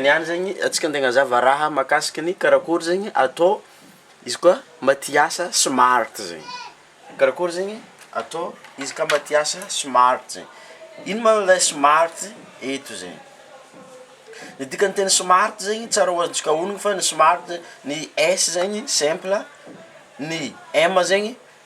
Ny any zegny antsika andeha agnazava raha mahakasika ny karakory zegny atao izy koa mba te hiasa smart zegny, karakory zegny atao izy ka mba te hiasa smart zegny, ino ma le smart eto zegny? Ny dikan'ny teny smart zegny tsara ho azontsika onony fa ny smart ny S zegny simple ny M zegny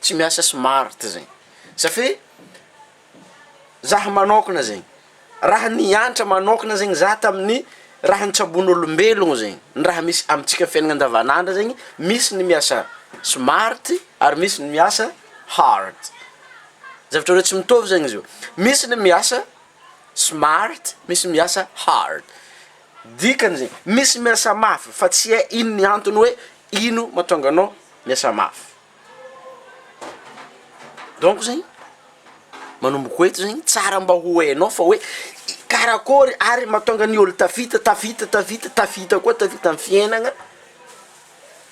Tsy miasa smart zegny safi zah manokana zegny raha niantra manokana zegny zah tamin'ny raha nitsabon'olombelogno zegny ny raha misy amintsika fiaignana andavan'andro zegny misy ny miasa smart ary misy ny miasa hard zavatra roe tsy mitovy zegny izy io, misy ny miasa smart misy ny miasa hard dikany zegny misy miasa mafy fa tsy hay ino ny antony hoe ino mahatonga anao miasa mafy. Donc zegny manomboko eto zegny tsara mba ho hainao fa hoe karakôry ary mahatonga ny ôlo tafita tafita tafita tafita koa tafita amy fiainagna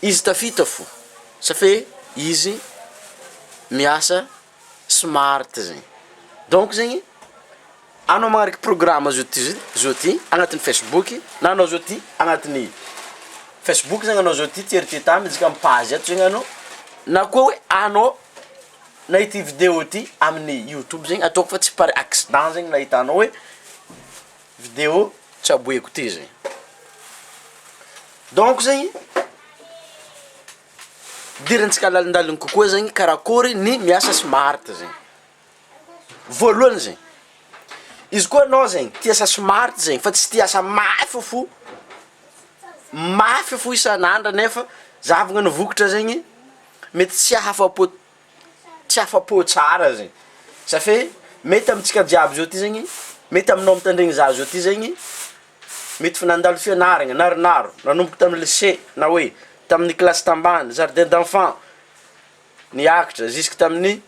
izy tafita fo sa fe izy miasa. smart zegny donc zegny anao magnariky programa zao ty zao ty agnatin'ny facebook na anao zao ty agnatin'ny facebook zany anao zao ty tsy eritrereto tany izy ka amy page eto zegny anao na koa hoe anao nahita io video ty amin'ny youtube zegny ataoko fa tsy par accident zegny nahitanao hoe video tsaboiko ty zegny donc zegny. Fidirantsika lalindaliny kokoa zegny karakory ny miasa smart zegny, voalohany zegny, izy koa anao zegny tia asa smart zegny fa tsy tia asa mafy fo, mafy fo isan'andro nefa zahavana ny vokatra zegny mety tsy ahafa-po. tsy afa-po tsara zegny safe mety amintsika jiaby zao ty zegny mety aminao mitandregny za zao ty zegny mety fa nandalo fianaragna naronaro nanomboka tamin'ny lycée na hoe tamin'ny kilasy tambany jardin d'enfants niakatra ziska tamin'ny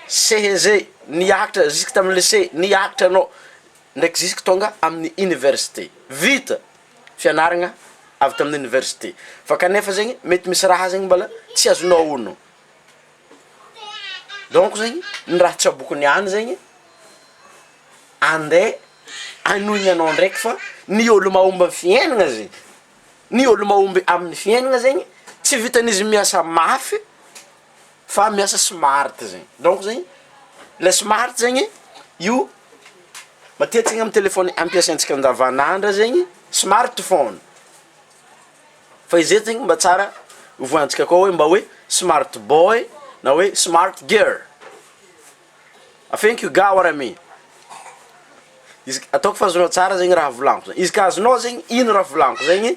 CEG niakatra ziska tamin'ny lycée niakatra anao ndraiky zisky tonga amin'ny université. Vita! Fianaragna avy tamin'ny université. Fa kanefa zegny mety misy raha zegny mbala tsy azonao ono. Donc zegny ny raha tsaboiko niany zegny, andeha anoigny anao ndraiky fa ny ôlo mahomby amin'ny fiaignana zegny, ny ôlo mahomby amin'ny fiaignana zegny tsy vitan'izy miasa mafy. fa miasa smart zegny donc zegny le smart zegny io matetika ny amin'ny telefony ampiasaintsika andavan'andra zegny smart phone fa izay zegny mba tsara ovoantsika koa hoe mba hoe smart boy na hoe smart girl thank you ga wara me izy ataoko fa azonao tsara zegny raha volagno izy ka azonao zegny ino raha volagno zegny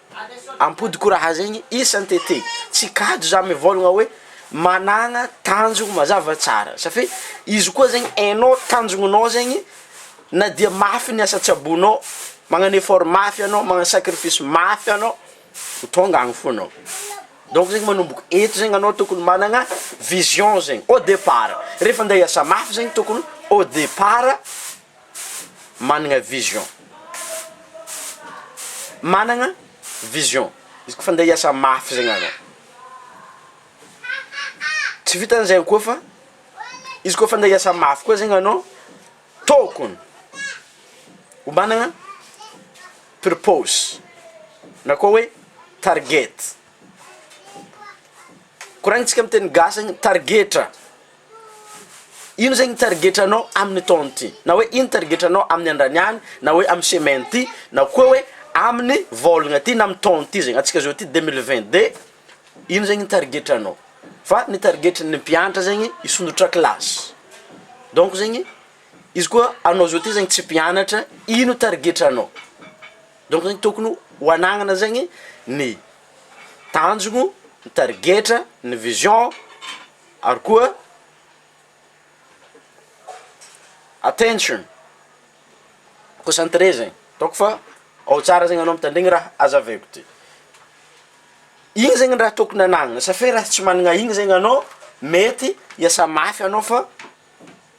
Ampodiko raha zegny isan tete tsy kajy za mivôlagna oe managna tanjogno mazava tsara safe izy koa zegny enao tanjognonao zegny na dia mafy ny asa tsaboinao magnagno effort mafy anao magnagno sacrifice mafy anao ho tonga agny fô anao donc zegny manomboko eto zegny anao tokony managna vision zegny au depart refa ande hiasa mafy zegny tokony au depart managna vision managna vision izy koa fa ndeha hiasa mafy zegny anao tsy vitan'izay koa fa izy koa fa ndeha hiasa mafy koa zegny anao tôkony ho managna purpose na koa hoe target koragnintsika amy teny gasy any tarigetra. Ino zegny tarigetranao amin'ny taona ty? Na hoe ino tarigetranao amin'ny andrany any na hoe amin'ny semaine ty na koa hoe amin'ny vôlagna ty na amin'ny taona ty zegny, antsika zao ty deux mille vingt deux ino zegny tarigetranao? Fa ny tarigetran'ny mpianatra zegny hisondrotra kilasy, donc zegny izy koa anao zao ty zegny tsy mpianatra ino tarigetranao? Donc zegny tokony ho anagnana zegny ny tanjogno, ny tarigetra, ny vision. Ary koa attention, concentré zegny, ataoko fa ao tsara zegny anao mitandregny raha azavaiko ty, igny zegny raha tokony anagnana, sa fe raha tsy managna igny zegny anao mety hiasa mafy anao fa.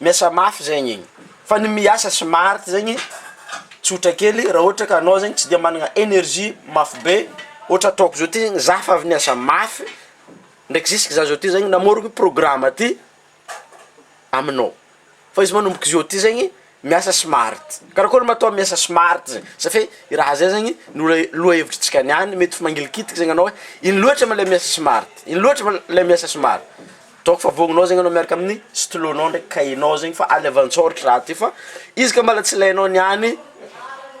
Miasa mafy zegny igny, fa ny miasa smart zegny tsotra kely raha ohatra ka anao zegny tsy de managna energie mafy be, ohatra ataoko zao ty zegny zah fa avy niasa mafy ndraiky zisky zah zao ty zegny namorogno programa ty aminao, fa izy manomboko zao ty zegny miasa smart, karakôry ma atao miasa smart zegny sa fe i raha zay zegny ny oe lohahevitritsika niany mety fa mangilikitiky zegny anao hoe ino loatra ma le miasa smart, ino loatra ma le miasa smart. Ataoko fa vognonao zegny anao miaraka amin'ny stylo nao ndraiky cahier nao zegny fa alevantsao ry raha ty fa izy ka mbola tsy ilainao niany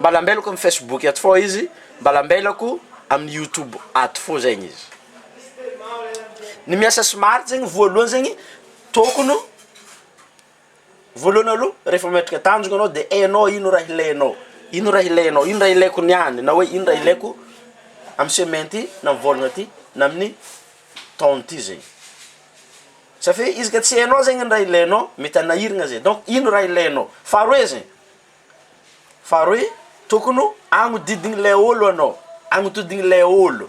mbola ambelako amin'ny facebook ato fô izy mbola ambelako amin'ny youtube ato fô zegny izy ny miasa smart zegny voalohany zegny tokony Voalohany aloha rehefa mametraka tanjona anao dia hainao ino raha ilainao, ino raha ilainao, ino raha ilaiko ny any na hoe ino raha ilaiko amin'ny semaine ity na amin'ny volana ity na amin'ny taona ity zay. Satria izy ka tsy hainao zegny ny raha ilainao mety hanahiragna zay, donc ino raha ilainao? Faharoe zegny, faharoe tokony ho agnodidign'ilay ôlo anao, agnodidign'ilay ôlo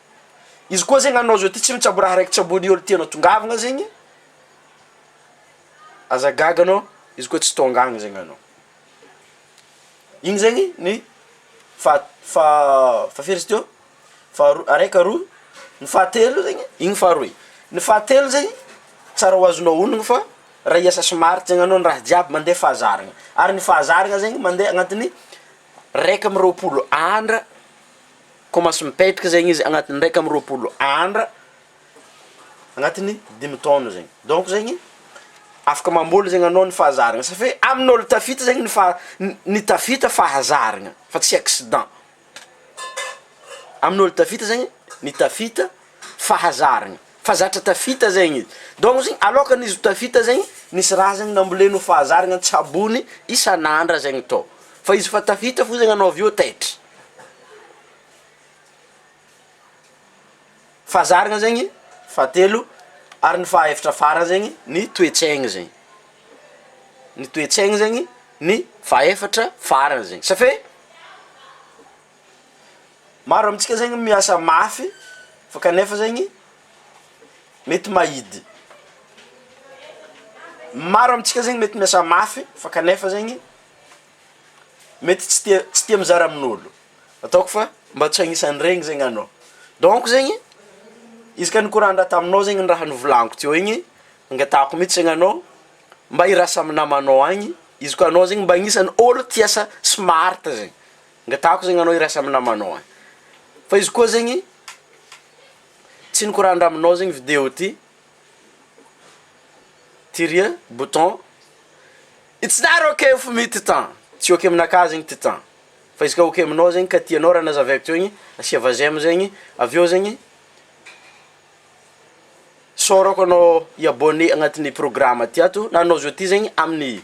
Izy koa zegny anao zao ty tsy mitsabo raha raiky tsaboin'ny olo tianao tongavagna zegny, aza gaga anao izy koa tsy tonga agny zegny anao. Igny zegny ny faha- faha- fahafiry izy teo faharoa araika aroa, ny fahatelo zegny igny faharoy, ny fahatelo zegny tsara ho azonao honogno fa raha hiasa smart zegny anao ny raha jiaby mandeha fahazarana ary ny fahazarana zegny mandeha agnatin'ny raika amby roapolo andra. Koa mahazo mipetraka zegny izy agnatin'ny iraika amby roapolo andra agnatin'ny dimy taona zegny, donc zegny afaka mamboly zegny anao ny fahazarana safe amin'olo tafita zegny ny faha- ny tafita fahazarana fa tsy accident, amin'olo tafita zegny ny tafita fahazarana fa zatra tafita zegny izy, donc zegny aloakan'ny izy ho tafita zegny nisy raha zegny namboleny ho fahazarana an-tsabony isan'andra zegny tô, fa izy efa tafita fo zegny anao avy eo taitra. Fahazarana zegny fahatelo ary ny fahaefatra farany zegny ny toe-tsaigny zegny, ny toe-tsaigny zegny ny fahaefatra farany zegny satria maro amintsika zegny miasa mafy fa kanefa zegny mety mahidy, maro amintsika zegny mety miasa mafy fa kanefa zegny. Mety tsy tia tsy tia mizara amin'olo, ataoko fa mba tsy agnisan'iregny zegny anao, donc zegny izy ka nikoran-draha taminao zegny ny raha novolaniko teo igny, nangatahako mitsy zegny anao mba hirasa amy namanao agny, izy koa anao zegny mba agnisany olo tia asa smart zegny, angatahako zegny anao hirasa amy namanao agny, fa izy koa zegny tsy nikoran-draha aminao zegny video ty. Tiria, bouton, It's not ok for me titan, tsy ok aminakahy zegny titan, fa izy ka ok aminao zegny ka tianao raha nazava avy teo igny asia va j'aime zegny avy eo zegny sôrako anao hi abonné agnatin'ny programme ty ato na anao zao ty zegny amin'ny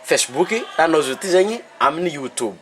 facebook na anao zao ty zegny amin'ny youtube.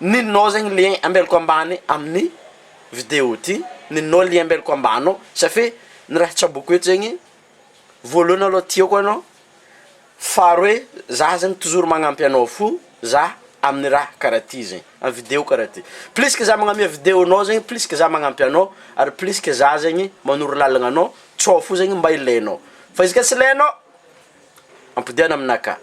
Ninonao zegny lien ambelako ambany amin'ny video ty, ninonao lien ambelako ambany ao, sa fe ny raha tsaboiko eto zegny, voalohany aloha tiako anao, faharoe za zany toujours magnampy anao fo za amin'ny raha karaha ty zegny, amin'ny video karaha ty, plus que za magname video anao zegny plus que za magnampy anao, ary plus que za zegny manoro lalagna anao, tsao fo zegny mba ilainao, fa izy ka tsy ilainao, ampodiana aminakahy.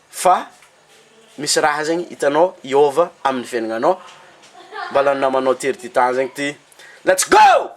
Fa misy raha zegny hitanao hiôva amin'ny fiaignanao, mbala ny namanao tery ty tany zegny ty let's go!